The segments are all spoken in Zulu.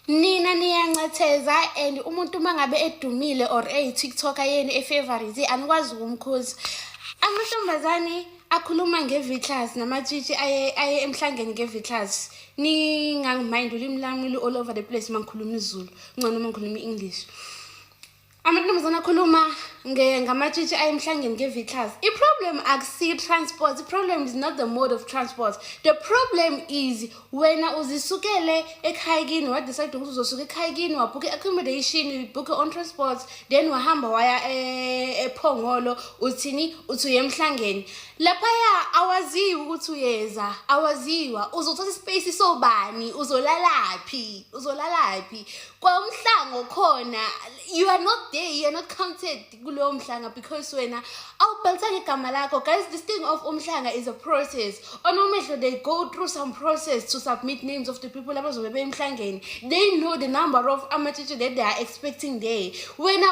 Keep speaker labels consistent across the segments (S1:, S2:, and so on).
S1: nina niyancetheza and umuntu uma ngabe edumile or eyi-tiktoker yenu efavorite anikwazi ukumkhuza amantombazane akhuluma nge-vitlas namatshitshi aye, aye emhlangeni nge-vitlas ningangimayindi ulimi lami lu-all over the place uma ngikhuluma izulu ngcono uma ngikhuluma i-english amantombazana akhuluma ngamatshitshi ayemhlangeni nge-viclars i-problem akusiyi-transport i-problem is not the mode of transport the problem is wena uzisukele ekhaya kini wadecide ukuthi uzosuka ekhaya kini wabhukha i-accommodation ubhukhe on transport then wahamba waya eh, ephongolo uthini uthi uye emhlangeni laphaya awaziwa ukuthi uyeza awaziwa uzothatha ispace sobani uzolalaphi uzolalaphi kwawumhlango khona you are not there you are not counted kulowo mhlanga because wena awubhalisanga igama lakho guys this thing of umhlanga is a process onomehlo they go through some process to submit names of the people abazobe bemhlangeni they know the number of amatshitshe that they are expecting there wena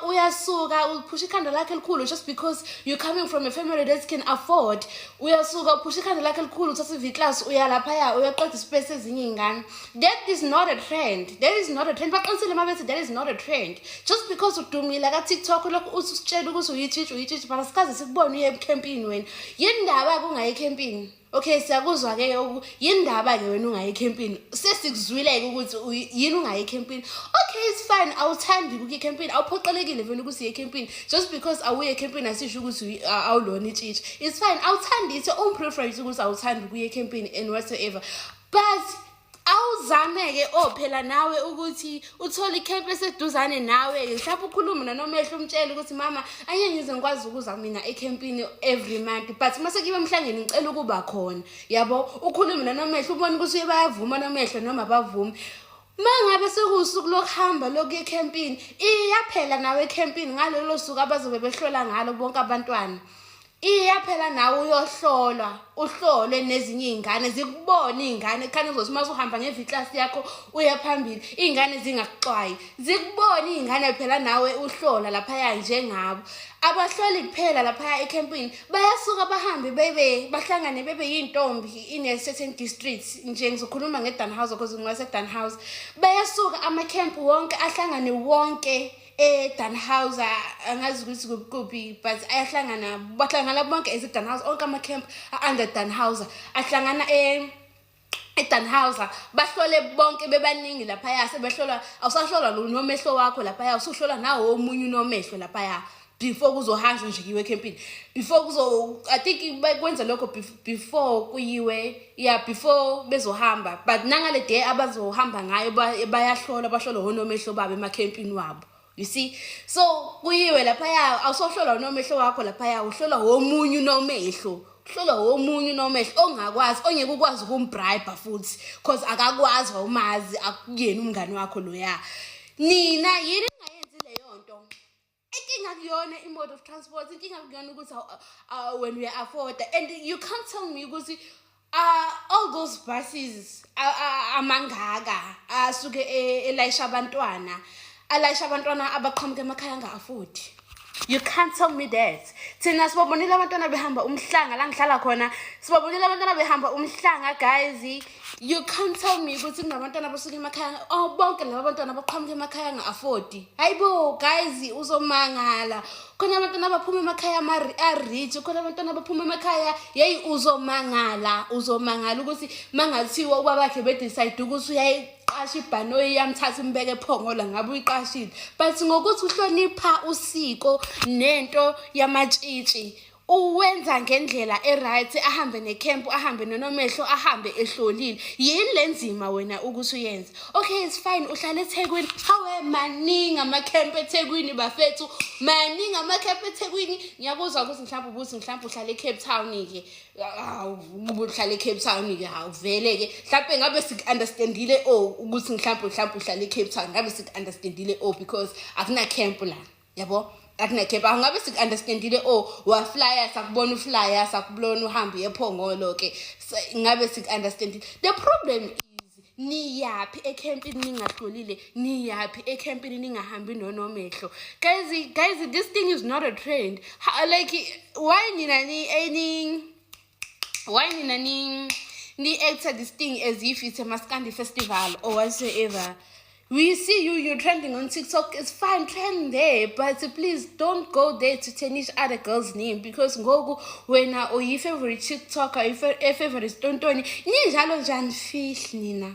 S1: uyasuka uphusha ikhanda lakhe elikhulu just because you're coming from a family that can afford uyasuka uphusha ikhanda lakhe elikhulu uthatha iv class uyalaphaya uyaqeda isipesi ezinye iy'ngane that is not a trend that is not a trend baqinisile uma bethi that is not a trend just because udumile ka-tiktok lokhu uthi usitshela ukuthi uyitshitshi uyitshitshi but asikaze sikubone uye emkhempini wena yini ndaba-ke ungayi ekhempini okay siyakuzwa-ke yini ndaba-ke wena ungayi ekhempini sesikuzwile-ke ukuthi yini ungayi ekhempini okay it's fine awuthandi ukuya ekhempini awuphoqelekile vele ukuthi uye ekhempini just because awuye ekhempini asisho ukuthi awulona itshitshi it's fine awuthandi it's your own preference ukuthi awuthandi ukuya ekhempini and whatsoever but awuzame-ke o oh, phela nawe ukuthi uthole ikhempu eseduzane nawe-ke mhlawumbe ukhulume nanomehlo umtshele ukuthi mama anye ngize ngikwazi ukuza mina ekhempini every month but uma sekuyiwe emhlangeni ngicela ukuba khona yabo ukhulume nanomehlo ubone ukuthi uye bayavuma nomehlo noma bavume mangabe sekuwusuku lokuhamba lokuya ekhempini iyaphela nawe ekhempini ngalelo suku abazobe behlola ngalo bonke abantwana Iya phela nawe uyohlolwa uhlolwe nezinye iy'ngane zikubone iy'ngane khani uzothi uma usuhamba ngeviklasi yakho uya phambili iy'ngane zingakuxwayi zikubone iy'ngane phela nawe uhlola laphaya njengabo abahloli kuphela laphaya ekhempini bayasuka bahambe bebe bahlangane bebe yintombi in a certain district nje ngizokhuluma ngedanhouse because ngiwasedanhouse bayasuka amakhempu wonke ahlangane wonke edanhausa angazi ukuthi kuphi but ayahlangana bahlangana bonke ezidanhausa onke ama-camp a-under danhausa ahlangana e edanhausa bahlole bonke bebaningi laphaya sebehlolwa awusahlolwa lo nomehlo wakho laphaya usuhlolwa nawo omunye unomehlo laphaya before kuzohanjwa nje kiwe ekhempini before kuzo i think kwenza lokho before before kuyiwe yeah before bezohamba but nangale day abazohamba ngayo bayahlolwa bahlolwa honomehlo babo emakhempini wabo you see so kuyiwe laphaya awusohlolwa unomehlo wakho laphaya uhlolwa womunye unomehlo uhlolwa womunye unomehlo ongakwazi ongeke ukwazi ukumbribe futhi cause akakwazi wawumazi akuyena umngani wakho loya nina yini inkinga kuyona i-mode of transport inkinga kuyona ukuthi wena uya-afforda and you can't tell me ukuthi uh, all those buses amangaka asuke e, elayisha abantwana alayisha abantwana abaqhamuka emakhaya anga-afodi you can't tell me that thina sibabonile abantwana behamba umhlanga la ngihlala khona sibabonile abantwana behamba umhlanga guys you can't tell me ukuthi kunabantwana abasuke emakhaya oh bonke laba bantwana abaqhamuka emakhaya nga-afodi hayi bo guys uzomangala khona abantwana abaphuma emakhaya a-rich khona abantwana abaphuma emakhaya yeyi uzomangala uzomangala ukuthi mangathiwa ubabakhe bedecide ukuthi uyayi uyiqasha ibhanoyi yamthatha umbeke ephongola ngabe uyiqashile but ngokuthi uhlonipha usiko nento yamatshitshi uwenza ngendlela e-right ahambe nekhempu ahambe nonomehlo ahambe ehlolile yini le nzima wena ukuthi uyenze okay it's fine uhlala ethekwini hawe maningi amakhempu ethekwini bafethu maningi amakhempu ethekwini ngiyakuzwa ukuthi mhlawumbe ubuthi mhlawumbe uhlala e-cape town-ke uhlala e-cape town-ke hawu vele-ke mhlawumbe ngabe siku-understandile o oh, ukuthi mhlawumbe mhlawumbe uhlala e-cape town ngabe siku-understandile o oh, because akunakempu lana yabo akunekhepha angabe siku-understandile o oh, waflya sakubona uflya sakubona uhambe uyephongolo ke ngabe siku-understandile the problem is niyaphi ekhempini ningahlolile niyaphi ekhempini ningahambi nonomehlo guys guys this thing is not a trend like why nina ni why nina ni ni actor this thing as if it's a maskandi festival or whatsoever we see you you're trending on tiktok it's fine trend there but please don't go there to tarnish other girls name because ngoku wena uyi-favorite tiktoker i-favorite tontoni ninjalo njani fish nina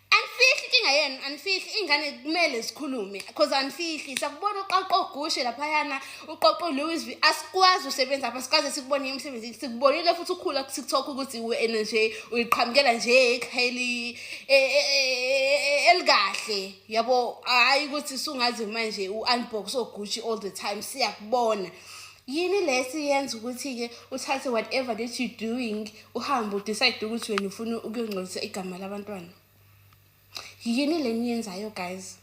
S1: anifihli inkinga yenu anifihli iy'ngane kumele zikhulume cause anifihli sakubona uqoqo ugushe laphayana uqoqo ulewis v asikwazi usebenza apha sikaze sikubone emsebenzini sikubonile futhi ukhula kutiktok ukuthi wena nje uyiqhamukela nje ekhayeli e, e, e, elikahle yabo hhayi ukuthi sungazi manje u-unbox ogushi all the time siyakubona yini lesi yenza ukuthi-ke uthathe whatever that you doing uhambe udecide ukuthi wena ufuna ukuyongcolisa igama labantwana yini le niyenzayo guys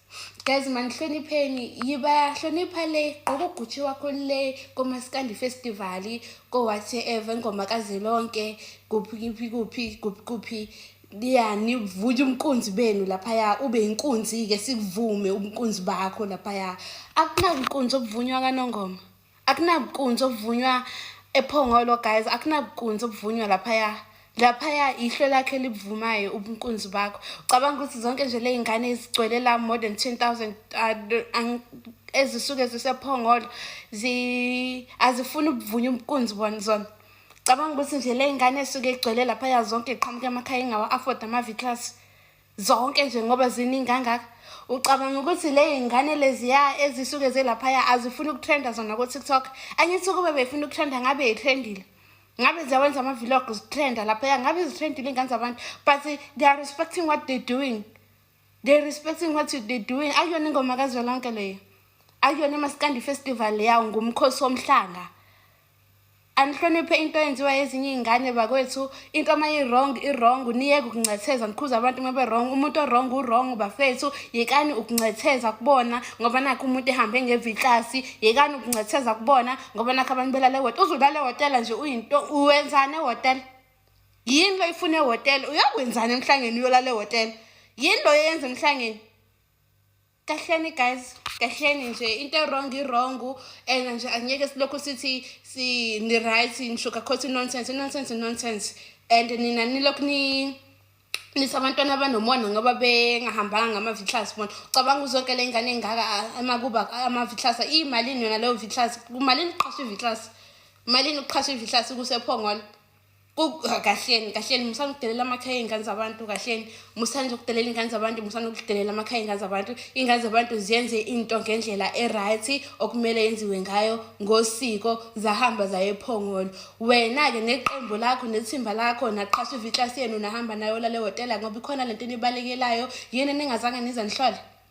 S1: guys manihlonipheni yibahlonipha le gqoka ugutshe wakho le komasikandi festival ko-whatever ingoma kazilonke kuphi kuphi kuphi kuphi kuphi yani vuya umkunzi benu laphaya ube inkunzi-ke sikuvume ubunkunzi bakho laphaya akunankunzi obuvunywa kanongoma akunabukunzi obuvunywa ephongolo guys akunabukunzi obuvunywa laphaya laphaya ihlwe lakhe libuvumayo ubunkunzi bakho ucabanga ukuthi zonke nje le y'ngane ezigcwele la more than 10000 uh, ezisuke zisephongolo azifuni ubuvunya ubunkunzi bona zona cabanga ukuthi nje le y'ngane esuke igcwele laphaya zonke iqhamuke emakhaya ingawa-afford ama-v class zonke nje ngoba ziningi kangaka ucabanga ukuthi le y'ngane leziya ezisuke zelaphaya azifuni ukutrenda zona ko-tiktok angithi ukube befuna ukutrenda ngabe yitrendile ngabe ziyawenza ama-vlog zitrenda laphaya ngabe zitrendile iy'ngane zabantu but they are respecting what they doing they respecting what they doing akuyona ingoma kazwelonke leyo akuyona imasikandi festival leyawo ngumkhosi womhlanga anihloniphe into eyenziwa ezinye iy'ngane bakwethu into uma i-wrong i-wrong niyeke ukuncetheza nikhuze abantu uma be-wrong umuntu o-wrong u-wrong bafethu yekani ukuncetheza kubona ngoba nakho umuntu ehambe ngevitlasi yekani ukuncetheza kubona ngoba nakho abantu belale wotela uzulale wotela nje uyinto uwenzani ewotela yini lo ifuna ewotela uyokwenzani emhlangeni uyolala ewotela yini lo yenza emhlangeni kahleni guys kahleni nje into erong irong and nje angeke silokhu sithi ni-right ni-sugarcoat nonsense nonsense nonsense and nina nilokhu ni nisa abantwana abanomona ngoba bengahambanga ngama-vitlus bona ucabanga uzonke le ngane engaka amakuba ama-vitlus iyimalini yona leyo vitlus kumalini uqhasha i-vitlus malini uqhasha i-vitlus kusephongolo kahleni kahleni musani ukudelela amakhaya ey'ngane zabantu kahleni musani ukudelela iy'ngane zabantu musani ukudelela amakhaya ey'ngane zabantu iy'ngane zabantu ziyenze into ngendlela e-right okumele yenziwe ngayo ngosiko zahamba zaye ephongolo wena-ke neqembu lakho nethimba lakho naqhasha iviklasi yenu nahamba nayo lale hotela ngoba ikhona le nto enibalekelayo yini eningazange nize nihlole